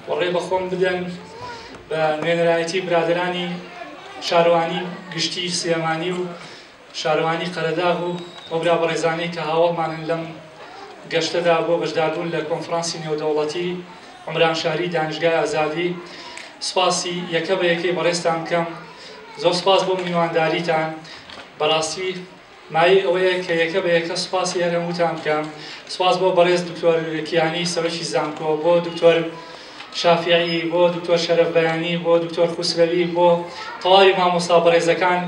و ڕێ بە خۆم بدەن بە نوێنەرایەتی برادرانی شارەوانی گشتی سلێمانی و شارەوانی قەرەداغ و ئەو برا بەڕێزانەی کە هاوڵمانن لەم گەشتەدا بۆ بەشداربوون لە کۆنفرانسی نێودەوڵەتی عمران شاری دانیشگای ئازادی سپاسی یەکە بە یەکەی بەڕێزتان بکەم زۆر سپاس بۆ میوانداریتان بەڕاستی مایەی ئەوەیە کە یەکە بە یەکە سوپاسی هەر هەمووتان بکەم، سوپاس بۆ بەڕێز دکتۆر کیانی سەرۆکی زانکۆ، بۆ دکتۆر شافیعی، بۆ دکتۆر شەرەف بەیانی، بۆ دکتۆر خوسرەوی، بۆ تەواوی مامۆستا بەڕێزەکان،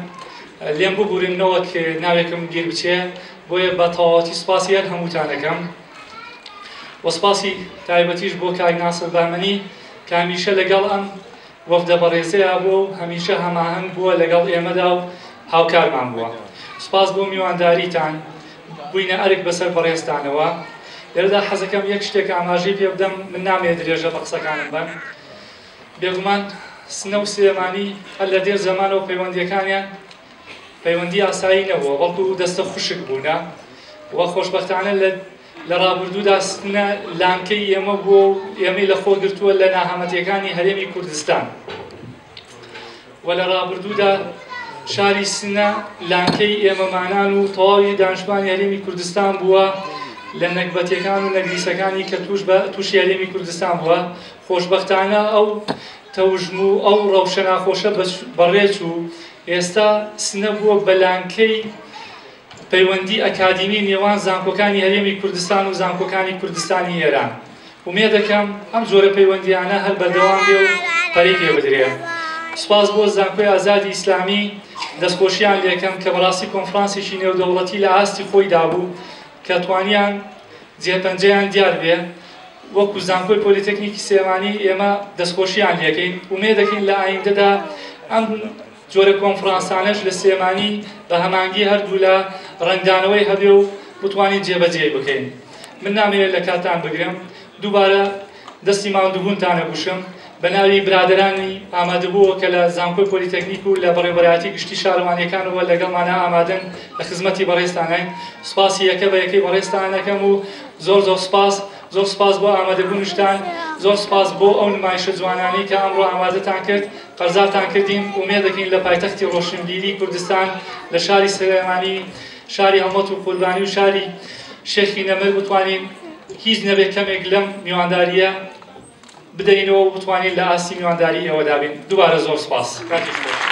لێم ببورن نەوەک ناوێکم بیر بچێ، بۆیە بە تەواوەتی سوپاسی هەر هەمووتان ئەکەم و سوپاسی تایبەتیش بۆ کاک ناسر بەهمەنی کە هەمیشە لەگەڵ ئەم وەفدە بەڕێزەیا بووە و هەمیشە هەماهەنگ بووە لەگەڵ ئێمەدا و هاوکارمان بووە. سوپاس بۆ میوانداریتان، بووینە ئەرک بەسەر بەڕێزتانەوە. لێرەدا حەزەکەم یەک شتێک ئاماژەی پێ بدەم، من نامەوێ درێژە بە قسەکانم بەم، بێگومان سنە و سلێمانی هەر لە دێر زەمانەوە پەیوەندییەکانیان پەیوەندی ئاسایی نەبووە، بەڵکو دەستە خوشک بوونە و خۆشبەختانە لە لە ڕابردوودا ستمنە لانکەی ئێمە بووە و ئێمەی لەخۆ گرتووە لە ناهەمەتیەکانی هەرێمی کوردستان و لە ڕابردوودا شاری سنە لانکەی ئێمەمانان و تەواوی دانشتوانی هەرێمی کوردستان بووە لە نەگبەتەکان و نەگریسەکانی کە توش بە تووشی هەرێمی کوردستان بووە خۆشببختانە ئەو تەوژم و ئەو ڕەوشە ناخۆشە بەڕێچ و ئێستا سنە بووە بەلانکەی پەیوەندی ئەکادیمی نێوان زانکۆکانی هەرێمی کوردستان و زانکۆکانی کوردستانی ئێران. ئومێدەکەم ئەم جۆرە پەیوەندییانە هەر بەردەوام بێ و پەرەی پێ بدرێ. سوپاس بۆ زانکۆی ئازادی ئیسلامی دەستخۆشییان لێکەم کە بەڕاستی کۆنفرانسێکی نێودەوڵەتی لە ئاستی خۆیدا بوو کە توانیان جێپەنجەیان دیار بێ. وەکوو زانکۆی پۆلیتەکنیکی سلێمانی ئێمە دەستخۆشییان لێکەین. ئومێدەکەین لە ئایندەدا ئەم جۆرە کۆنفرانسانەش لە سلێمانی بە هەمانگی هەردوولا ڕەنگدانەوەی هەبێ و بتوانین جێبەجێی بکەین. من نامەوێت لە کاتتان بگرم، دووبارە دەستی ماندووبوونتان ئەگوشم، بە ناوی برادەرانی ئامادەبووەوە کە لە زانکۆی پۆلیتەکنیک و لە بەڕێوەبەرایەتی گشتی شارەوانییەکانەوە لەگەڵمانە ئامادەن لە خزمەتی بەڕێزتانین، سوپاسی یەکە بە یەکەی بەڕێزتان ئەکەم و زۆر زۆر سوپاس، زۆر سوپاس بۆ ئامادەبوونشتان، زۆر سوپاس بۆ ئەو نمایشە جوانانەی کە ئەمڕۆ ئامادەتان کرد، قەرزارتان کردین، ئومێدەکەین لە پایتەختی ڕۆشنبیری کوردستان لە شاری سلێمانی، شاری هەڵمەت و قوربانی و شاری شێخی نەمر بتوانین هیچ نەبێ کەمێک لەم میوانداریە بدەینەوە و بتوانین لە ئاستی میوانداری ئێوە دابین دووبارە زۆر سپاس کاتیش خۆش